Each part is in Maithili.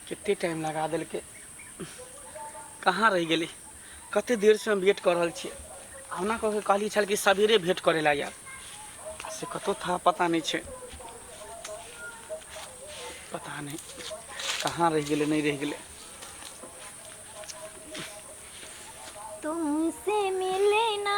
कतेक टाइम लगा देलकै कहाँ रहि गेलै कतेक देरसँ हम वेट कऽ रहल छियै हमरा कऽ कहली छल कि सवेरे भेँट करै लए आयब से कतहु था पता नहि छै पता नहि कहाँ रहि गेलै नहि रहि गेलै तुमसे मिलना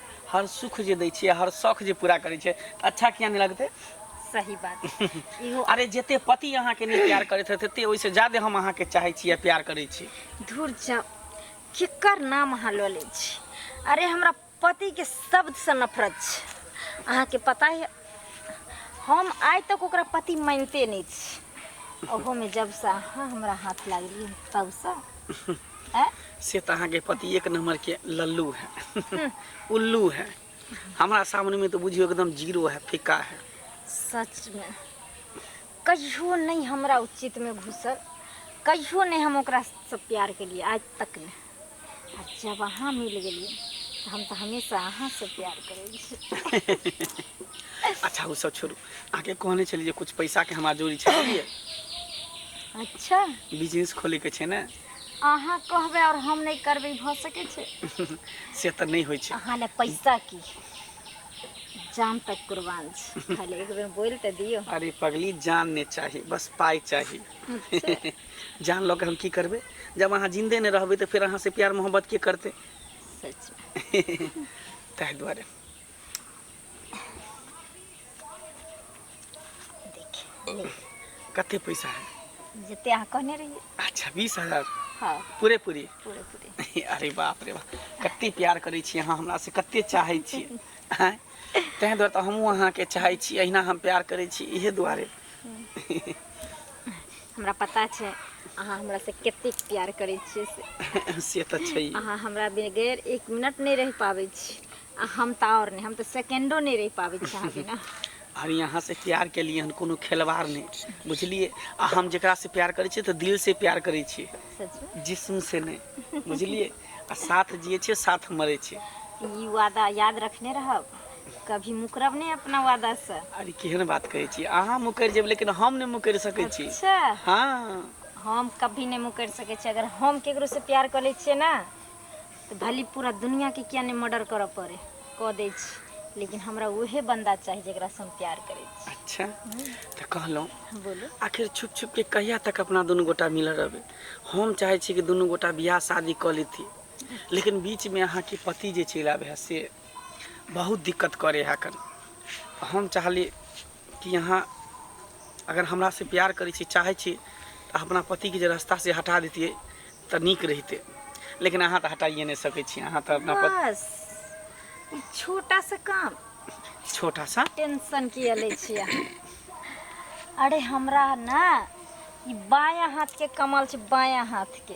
हर सुख जे दै छियै हर शौक जे पूरा करै छै तऽ अच्छा किया नहि लगतै सही बात इहो अरे जते पति अहाँके नहि प्यार करैत रहत तते ओहिसँ ज्यादे हम अहाँके चाहै छी आ प्यार करै छी धुर जा केकर नाम अहाँ लऽ लै छी अरे हमरा पतिके शब्दसँ नफरत छै अहाँके पता यऽ हम आइ तक ओकरा पति मानिते नहि छी ओहोमे जबसँ अहाँ हमरा हाथ लागलियै तबसँ आँय? से तऽ अहाँके पति एक नंबर के लल्लू है उल्लू है हमरा सामने में तो बुझियो एकदम जीरो है फिक्का है सचमे कहियो नहि हमरा उचितमे घुसल कहियो नहि हम ओकरासँ प्यार केलियै आज तक नहि आ जब अहाँ मिल गेलियै तऽ हम तऽ हमेशा अहाँसँ प्यार करै छी अच्छा ओ सब छोड़ू अहाँके कहने छलियै जे कुछ पैसाके हमरा जोड़ी छै बुझलियै अच्छा बिजनेस खोलैके छै ने अहाँ कहबै आओर हम नहि करबै भऽ सकै छै से तऽ नहि होइ छै अहाँ लए पैसा की जान तक कुर्बान छै खाली एक बेर बोलि तऽ दियौ अरे पगली जान नहि चाही बस पाइ चाही जान लऽ के हम की करबै जब अहाँ जिन्दे नहि रहबै तऽ फेर अहाँसँ प्यार मोहब्बत के करतै ताहि दुआरे कते पैसा है जते अहाँ कहने रहिए अच्छा बीस हजार हाँ पूरे पूरी पूरे पूरी अरे बाप रे बाप कते प्यार करै छी अहाँ हमरा से कते चाहै छी ताहि दुआरे तऽ हमहूँ अहाँके चाहै छी अहिना हम प्यार करै छी इहे दुआरे हम्म। हमरा पता छै अहाँ हमरासँ कतेक प्यार करै छियै से से तऽ छै अहाँ हमरा बगैर एक मिनट नहि रहि पाबै छी आ हम तऽ आओर नहि हम तऽ सेकेंडो नहि रहि पाबै छी अहाँ बिना अरे यहाँ से प्यार के लिए हम कोनो खिलवाड़ नहीं बुझलिए आ हम जेकरा से प्यार करे छिए तो दिल से प्यार करे छिए सच जिस्म से नहीं बुझलिए आ साथ जिए छिए साथ मरे छिए ई वादा याद रखने रहब कभी मुकरब नहि अपना वादा से अरे केहन बात कहै छी अहाँ मुकरि जेब लेकिन हम नहि मुकरि सकै छी अच्छा हँ हम कभी नहि मुकरि सकै छी अगर हम केकरो से प्यार कर लै छियै ने तऽ भली पूरा दुनिया के किया नहि मर्डर करऽ पड़े कऽ दै छी लेकिन हमरा उहे बंदा चाही जेकरा से हम प्यार करै छी अच्छा तऽ कहलहुँ बोलू आखिर छुप छुप के कहिया तक अपना दुनू गोटा मिलल रहबै हम चाहै छी कि दुनू गोटा बियाह शादी कऽ लेती लेकिन बीचमे अहाँके पति जे चलि आबै है से बहुत दिक्कत करे है कन हम चाहली कि यहाँ अगर हमरा से प्यार करे छी चाहे छी तो अपना पति के रास्ता से हटा देती तो निक रहते लेकिन अहाँ तो हटाइए नहीं सके छी अहाँ तो अपना पति बस ई छोटा सा काम छोटा सा टेंशन किया ले छिया अरे हमरा ना ई बाया हाथ के कमाल छै बाया हाथ के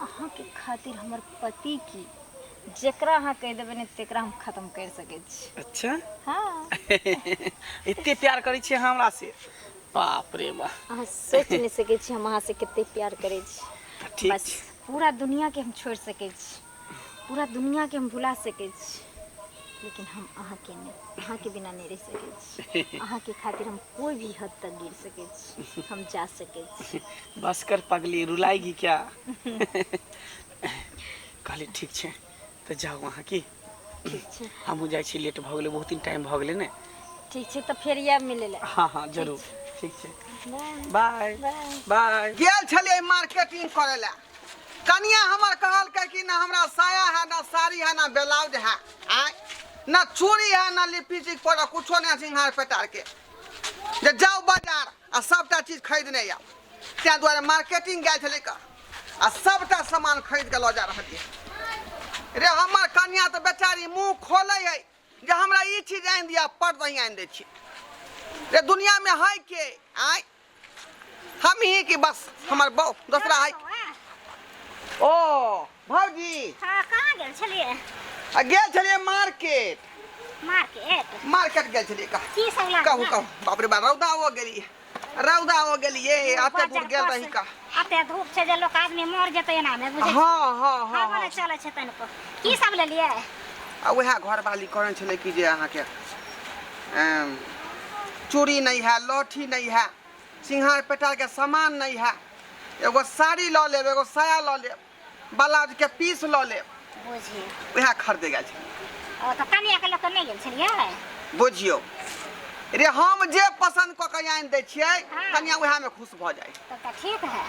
अहाँके खातिर हमर पति की जेकरा अहाँ कहि देबै ने तेकरा हम खत्म कर सकै छी अच्छा हाँ एते प्यार करै छियै अहाँ हमरा से बाप रे बा अहाँ सोच नहि सकै छी हम अहाँ से कते प्यार करै छी तऽ ठीक बस छै पूरा दुनिया के हम छोड़ सकै छी पूरा दुनिया के हम भुला सकै छी लेकिन हम अहाँके नहि अहाँके बिना नहि रहि सकै छी अहाँके खातिर हम कोई भी हद तक गिर सकै छी हम जा सकै छी बस कर पगली रुलाएगी क्या कहली ठीक छै तऽ जाउ अहाँ की ठीक छै हमहूँ जाइ छी लेट भऽ गेलै बहुत दिन टाइम भऽ गेलै ने ठीक छै तऽ फेर आयब मिलै लए हाँ हाँ जरूर ठीक छै बाय बाय बाय गेल छलियै मार्केटिंग करे ला कनिया हमर कहलकै कि ना हमरा साया है ना साड़ी है ना ब्लाउज है आय ना चूड़ी है ना लिपस्टिक पर कुछो नहीं सिंहार पेटार के जे जाओ बाजार आ सबटा चीज खरीदने आउ ताहि दुआरे मार्केटिंग गेल छलै कऽ आ सबटा सामान खरीद कऽ लऽ जा रहलियै रे हमर कनिया तऽ बेचारी मुंह खोलै है जे हमरा ई चीज आनि दिअ पट दही आनि दै छी रे दुनियामे है के आय हम ही कि बस हमर बहु दोसरा है ओ भौजी हाँ कहाँ गेल छलिए आ गेल छलिए मार्केट मार्केट मार्केट गेल छलिए का की सब लाना कहू कहू बाप रे बा रौदा हो गेली रौदा हो गेली ये आते दूर गेल रही का अते धूप छै जे लोक आदमी मर जेतै एनामे बुझै छियै हाँ हाँ हाँ हवा हाँ। नहि चलै छै तनिको की सब लेलियै आ उएह घरवाली कहने छलै कि जे अहाँके एम, चूड़ी नहि है लहठी नहि है सिंहार पेटारके सामान नहि है एगो साड़ी लऽ लेब एगो साया लऽ लेब बलाज के पीस लऽ लेब बुझियौ उएह खरीदे गेल छलियै ओ तऽ कनिया के लऽ कऽ नहि गेल छलियै बुझियौ रे हम जे पसन्द कऽ के आनि दै छियै हँ। कनिया उएह मे खुश भऽ जाइ तब तऽ ठीक है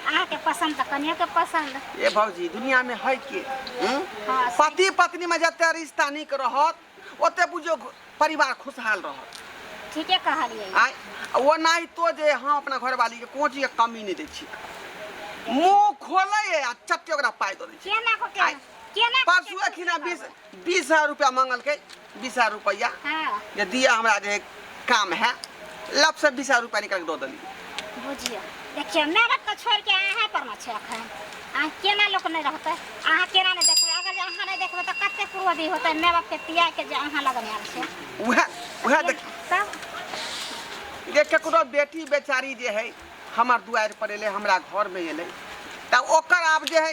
अहाँके पसन्द तऽ कनियो के पसन्द ए भौजी दुनिया में है के हम्म? हाँ। पति पत्नी में जते रिश्ता नीक रहत ओते बुझियो घ- परिवार खुशहाल रहत ठीके कहलियै आय वो नहीं तो जे हम अपना घर वाली के कोनो चीज के कमी नहीं दै छी मुंह खोले है आ चट्टे ओकरा पाय दे छी केना को के आय। केना को परसू के- अखिना बीस बीस हजार रुपया मांगल के बीस हजार रुपया हाँ जे दिया हमरा जे काम है लब से बीस हजार रुपया निकाल के दो दली बुझियो देखियो मेहनत के छोड़ के अहाँ पर न छै अखन अहाँ केना लोक नहि रहतै अहाँ केना नहि देखबै अगर जे अहाँ नहि देखबै तऽ कते पूर्वदी होतै माय बाप के तिया के जे अहाँ लगन आयल छै उहे उहे देख तब जे केकरो बेटी बेचारी जे है हमार दुआर पर एलै हमरा घर में एलै तब ओकर आब जे है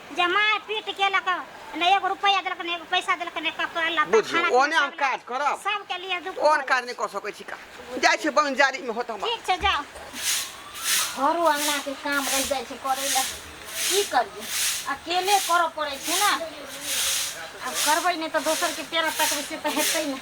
जे माय पीट केलक ने एगो रुपैआ देलक ने एगो पैसा देलक ने कपड़ा लत्ता बुझियो खाना ओने हम काज करब सबके लिए दुख ओन भऽ काज नहि कऽ सकै छी का जाइ छै बन जारी मे होत जाइ। हमर ठीक छै जाओ घरो अंगना के काम रह जाइ छै करे ला की करिए अकेले करऽ पड़े छै ना अब करबै नहि तऽ दोसर के पेरा तकबै से तऽ हेतै नहि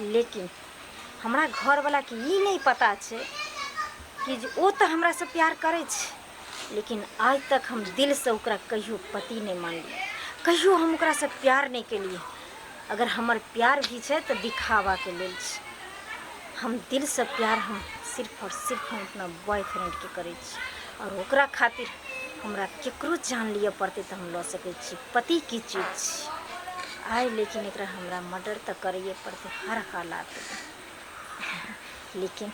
लेकिन हमरा घरवलाके ई नहि पता छै कि जे ओ तऽ हमरासँ प्यार करै छै लेकिन आइ तक हम दिलसँ ओकरा कहियो पति नहि मानलियै कहियो हम ओकरासँ प्यार नहि केलियै अगर हमर प्यार भी छै तऽ दिखावाके लेल छै हम दिलसँ प्यार हम सिर्फ आओर सिर्फ हम अपना बॉयफ्रेंडके करै छी आओर ओकरा खातिर हमरा ककरो जान लिअ पड़तै तऽ हम लऽ सकै छी पति की चीज छी आइ लेकिन एकरा हमरा मर्डर तऽ करैए पड़तै हर हालात लेकिन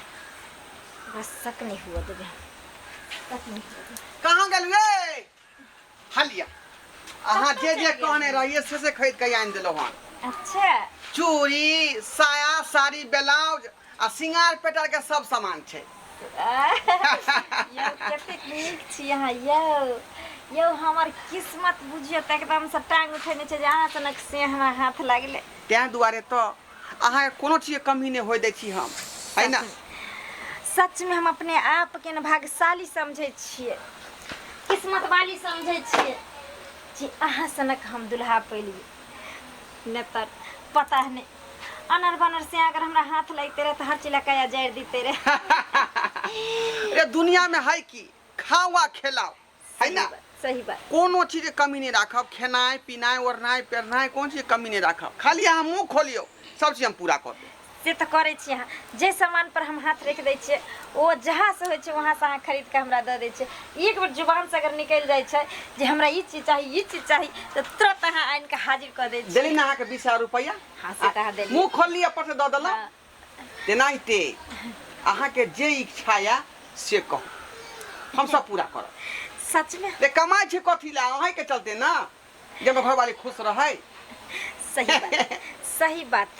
बस शक नहीं हुआ देवे शक नहीं हुआ देवे कहाँ गेलुए हलिया अहाँ जे जे कहने रहिए से से खरीद के आनि देलहुँ हन अच्छा चूड़ी साया साड़ी ब्लाउज आ सिंगार पेटर के सब सामान छै यौ कतेक नीक छी अहाँ यौ यौ हमर किस्मत बुझियो तऽ एकदम से टांग उठेने छै जे अहाँ सनक से हमरा हाथ लागले तें दुआरे तऽ अहाँ के कोनो चीज के कमी नहि होय दै छी हम है ना सच में हम अपने आप के ने भाग्यशाली समझे छियै किस्मत वाली समझे छियै जे अहाँ सनक हम दुल्हा पैलियै नहि तऽ पता नहि अनर बनर से अगर हमरा हाथ लगते रहे तो हर चिला कया जर देते रहे अरे दुनिया में है की खाओ आ खेलाओ है ना सही बात कोनो चीज के कमी नहीं राखब खेनाय पिनाय ओढ़नाय पेरनाय कोन चीज के कमी नहीं राखब खाली अहाँ मुंह खोलियो सब चीज हम पूरा कर देब से तो करे छी अहाँ जे सामान पर हम हाथ रख दै छियै ओ जहाँ से होइ छै वहाँ से अहाँ खरीद के हमरा दऽ दै छियै एक बेर जुबान से अगर निकल जाए छै जे हमरा ई चीज चाहिए ई चीज चाहिए तो तुरंत अहाँ आन के हाजिर कर दे देली ना के बीस हजार रुपया हाँ, से कहा देली। मुंह खोल लिया पर से दऽ देला हाँ। तेनाहिते अहाँ के जे इच्छा या से कहू हम सब पूरा करब सच में ते कमाई छै कथी ला अहीं के चलते ना जे हमर घरवाली खुश रहै सही बात सही बात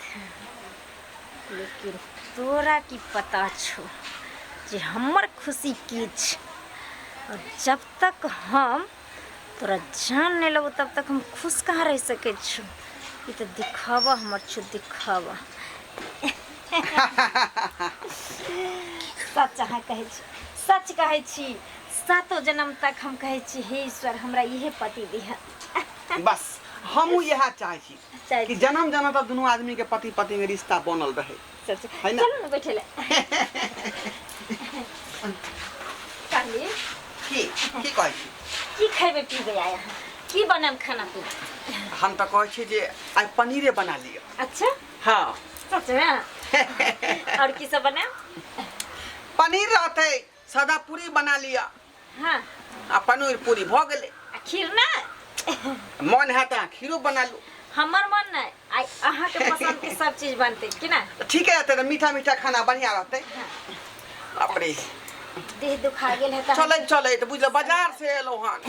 लेकिन तोरा की पता छो जे हमर खुशी की छै और जब तक हम तोरा जान नहीं लगो तब तक हम खुश कहाँ रह सके छो ई तऽ दिखावा हमर छो दिखावा सच अहाँ कहै छी सच कहै छी सातो जन्म तक हम कहै छी हे ईश्वर हमरा इहे पति दिह बस हमहूँ इएह चाहै छी चाहै कि छी। जन्म जन्म तक दुनू आदमी के पति पत्नी के रिश्ता बनल रहे चल चल है ना? चलू ने बैठे ले कहली की की कहै छी की खेबे पीबे आय अहाँ की बनाम खाना पीना हम तऽ कहै छी जे आइ पनीरे बना लिअ अच्छा हँ सच में और की सब बनाम पनीर रहतै सादा पूरी बना लिअ हाँ आ पनीर पूरी भऽ गेलै आ खीर ना मन है तऽ अहाँ खीरो बना लू हमर मन नहीं आई अहाँ के पसंद के सब चीज बनते कि ना तऽ ठीके रहतै तऽ मीठा मीठा खाना बढ़िआँ रहतै बाप रे देह दुखा गेल है तऽ हम- चलैत चलैत बुझलहुँ बाजार से एलहुँ हन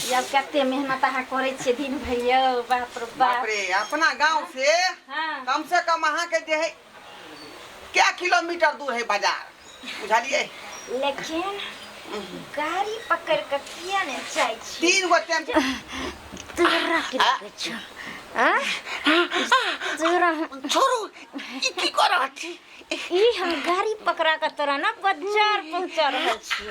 ई अब कते मेहनत अहाँ करे छियै दिन भर यौ बाप रे बाप बाप रे अपना गाँव से हाँ कम से कम अहाँके जे है क्या किलोमीटर दूर है बाजार बुझलिए लेकिन गाड़ी पकड़ के किया ने जाय छी तीन गो टेम्पो तोरा की लगे छ आ तोरा छोड़ू ई की कर रहल छी ई हम गाड़ी पकड़ा के तोरा ना बाजार पहुंचा रहल छी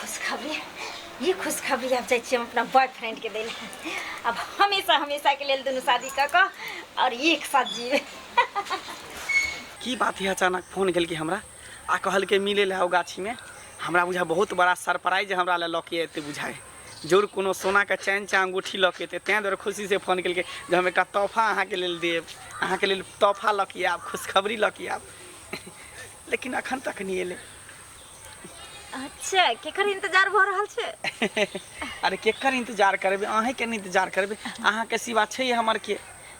खुशखबरी ई खुशखबरी आब जाइ छियै हम अपना बॉयफ्रेंडके दै लए आब हमेशा हमेशाके लेल दुनू शादी कऽ कऽ आओर एक साथ जीबै की बात है अचानक फोन केलकै हमरा आ कहलकै मिले लए आओ गाछीमे हमरा बुझा बहुत बड़ा सरप्राइज हमरा लए लऽ के एतै बुझाइ जरूर कोनो सोनाके चैन चाहे अंगूठी लऽ के एतै ताहि दुआरे खुशीसँ फोन केलकै जे हम एकटा तोहफा अहाँके लेल देब अहाँके लेल तोहफा लऽ के आयब खुशखबरी लऽ के आयब लेकिन अखन तक नहि एलै अच्छा केकर इंतजार भऽ रहल छै अरे केकर इंतजार करबै अहींके ने इंतजार करबै अहाँके सिवा छै हमर के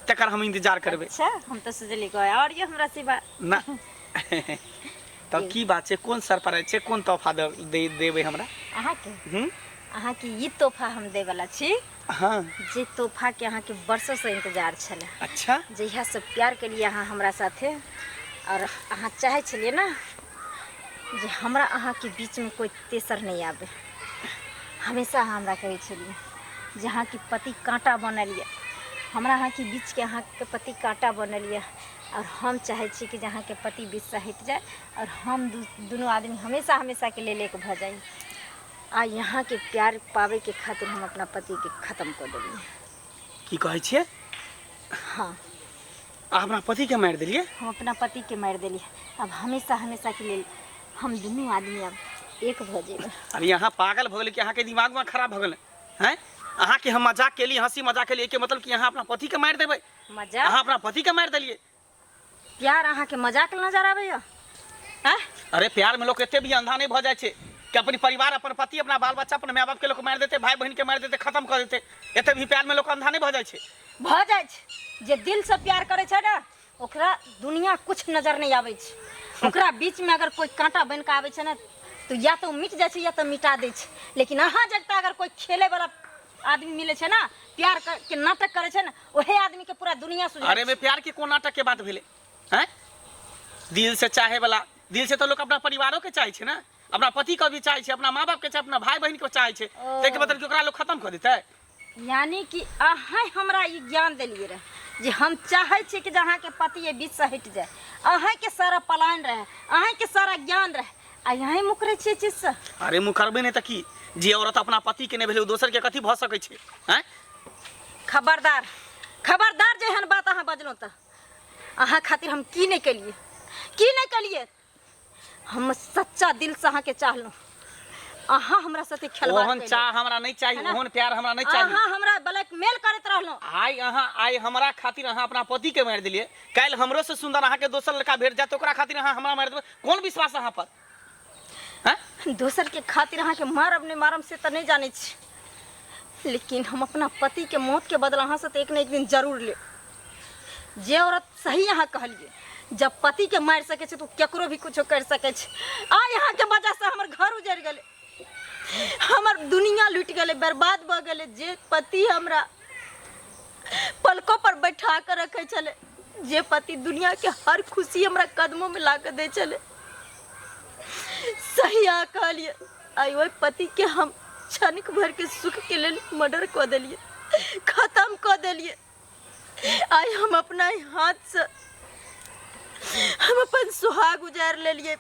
तकर हम इंतजार करबै अच्छा हम तऽ सोचलियै कोइ आओर ये हमरा सिवा ना तब की बात छै कोन सरप्राइज छै कोन तोहफा देबै हमरा अहाँके हूँ अहाँके ई तोहफा हम देबला छी हाँ जे तोहफा के अहाँके वर्षों से इंतजार छले अच्छा जहिया से प्यार के लिए अहाँ हमरा साथे और अहाँ चाहे छलिए ना जे हमरा अहाँ के बीच में कोई तेसर नहीं आवे हमेशा अहाँ हमरा कहे छलिए जे अहाँ के पति कांटा बनल ये हमरा अहाँ के बीच के अहाँ के पति कांटा बनल ये आओर हम चाहै छी कि जे अहाँके पति बीचसँ हटि जाइ आओर हम दू दुनू आदमी हमेशा हमेशाके लेल एक भऽ जाइ आ यहाँके प्यार पाबैके खातिर हम अपना पतिके खतम कऽ देलियै की कहै छियै हँ आ हमरा पतिके मारि देलियै हम अपना पतिके मारि देलियै आब हमेशा हमेशाके लेल हम दुनू आदमी आब एक भऽ जेबै अब यहाँ पागल भऽ गेलै कि अहाँके दिमाग उमाग खराब भऽ गेलै हैं अहाँके हम मजाक केली हंसी मजाक केली एहिके मतलब कि अहाँ अपना पतिके मारि देबै मजा अहाँ अपना पति के मारि देलिए प्यार अहा के मजाक नजर आवे या हैं अरे प्यार में लोग एते भी अंधा नहीं भ जाए छे कि अपनी परिवार अपन पति अपना बाल बच्चा अपन माय बाप के लोग मार देते भाई बहन के मार देते खत्म कर देते एते भी प्यार में लोग अंधा नहीं भ जाए छे भ जाए छे जे दिल से प्यार करे छे ना ओकरा दुनिया कुछ नजर नहीं आवे छे ओकरा बीच में अगर कोई कांटा बन के आवे छे ना तो या तो मिट जाए छे या तो मिटा दे छे लेकिन अहा जगता अगर कोई खेले वाला आदमी मिले छे ना प्यार के नाटक करे छे ना ओहे आदमी के पूरा दुनिया सुझाइ अरे में प्यार के कोन नाटक के बात भेले हैं दिल से चाहे वाला दिल से तो लोग अपना परिवारों के चाहे छे ना अपना पति के भी चाहे छे अपना माँ बाप के चाहे अपना भाई बहन के चाहे छे ओ। ताहि के मतलब कि ओकरा लोग खत्म कर देते यानी कि अहें हमरा ई ज्ञान देलिए रहे जे हम चाहे छी कि जे अहाँके पति ये बीच से हटि जाए अहें के सारा पलायन रहे अहें के सारा ज्ञान रहे आ यहीं मुकरे छियै चीज से अरे मुखरबे नहीं तो की जे औरत अपना पति के नहीं भेले उ दोसर के कथी भ सकै छै हैं खबरदार खबरदार जे एहन बात अहाँ बजलहुँ तऽ अहाँ खातिर हम की नहि केलियै की नहि केलियै हम सच्चा दिलसँ अहाँके चाहलहुँ अहाँ हमरा साथे खेलबाड़ ओहन केलियै। चाह हमरा नहीं चाहिए है ना? ओहन प्यार हमरा नहीं चाहिए अहाँ हमरा ब्लैकमेल करैत रहलहुँ आइ अहाँ आइ हमरा खातिर अहाँ अपना पति के मारि देलिए काल्हि हमरो से सुंदर अहाँ के दोसर लड़का भेट जाए तो ओकरा खातिर अहाँ हमरा मारि देबै कोन विश्वास अहाँ पर हैं? दोसर के खातिर अहाँ के मारब नहीं मारब से तो नहीं जाने छी लेकिन हम अपना पति के मौत के बदला अहाँ से तो एक न एक दिन जरूर ले जे औरत सही अहाँ कहलिए जब पति के मार सके छै तो केकरो भी कुछ कर सके छै आ यहाँ के वजह से हमर घर उजड़ गए हमर दुनिया लुट गए बर्बाद भ गए जे पति हमरा पलकों पर बैठा के रखे छले जे पति दुनिया के हर खुशी हमरा कदमों में ला के दे छले सही आ कहलिए आई ओहि पति के हम क्षणिक भर के सुख के लेल मर्डर क देलिए खत्म क देलिए आई हम अपना ही हाथ से हम अपन सुहाग उजार लेलिए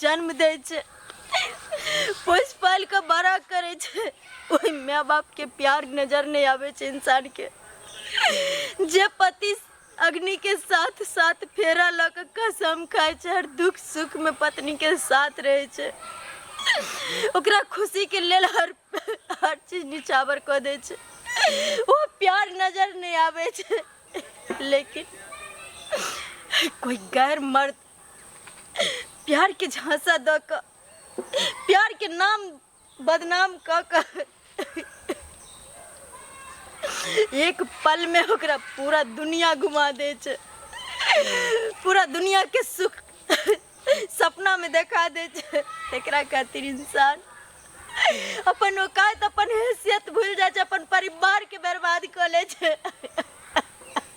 जन्म दै छै पोसि पालि कऽ बड़ा करै छै ओहि माय बापके प्यार नजर नहि आबै छै इंसानके जे पति अग्निके साथ साथ फेरा लऽ कऽ कसम खाइ छै हर दुख सुखमे पत्नीके साथ रहै छै ओकरा खुशीके लेल हर हर चीज निछावर कऽ दै छै ओ प्यार नजर नहि आबै छै लेकिन कोई गैर मर्द प्यार के झांसा द क प्यार के नाम बदनाम क क एक पल में ओकरा पूरा दुनिया घुमा दे छै पूरा दुनिया के सुख सपना में देखा दे छै एकरा खातिर इंसान अपन औकात अपन हैसियत भूल जाए छै अपन परिवार के बर्बाद कऽ ले छै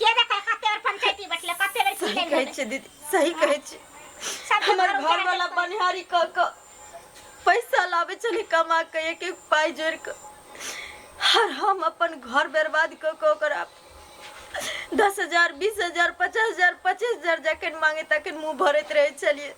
के देखै कते बेर पंचायती बैठले कते बेर की सही लेन कहै भेलै छै दीदी सही कहै छै सब हमर घर घर वाला उजाड़ बनिहारी क क पैसा लाबै छलै कमा के एक एक पाइ जोड़ि के और हम अपन घर बर्बाद क के ओकरा दस हजार बीस हजार पचास हजार पच्चीस हजार जखन मांगे तखन मुंह भरैत रहै छलियै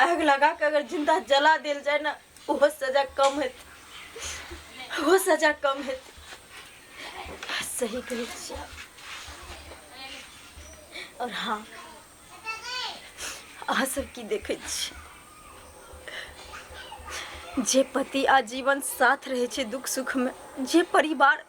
आग लगा के अगर जिंदा जला दिल जाए ना वो सजा कम है वो सजा कम है सही कही छियै आप। और हाँ अहाँ सब की देखै छी जे पति आजीवन साथ रहै छै दुख सुखमे जे परिवार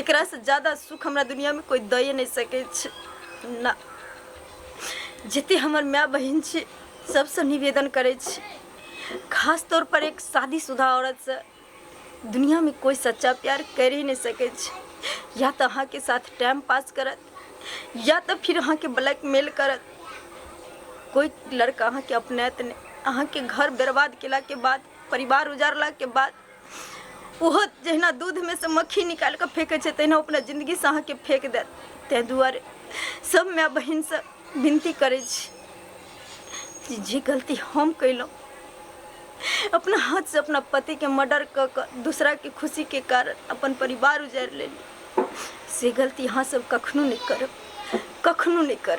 एकरा से ज्यादा सुख हमरा दुनिया में कोई दए नहीं सके छै ना जते हमर माय बहन छै सबसे निवेदन करे छी खास तौर पर एक शादीशुदा औरत से दुनिया में कोई सच्चा प्यार कर ही नहीं सके छै या तो अहाँ के साथ टाइम पास करत या तो फिर अहाँ के ब्लैकमेल करत कोई लड़का अहाँ के अपनात नहीं अहाँ के घर बर्बाद केला के बाद परिवार उजारला के बाद ओहो जहिना दूधमे से मक्खी निकालि कऽ फेंकै छै तहिना अपना जिन्दगीसँ अहाँके फेंक देत ताहि दुआरे सभ माय बहिनसँ विनती करै छी जे जे गलती हम कयलहुँ अपना हाथसँ अपना पतिके मर्डर कऽ कऽ दूसराके खुशीके कारण अपन परिवार उजारि लेली से गलती अहाँ सब कखनो नहि करब कखनो नहि करब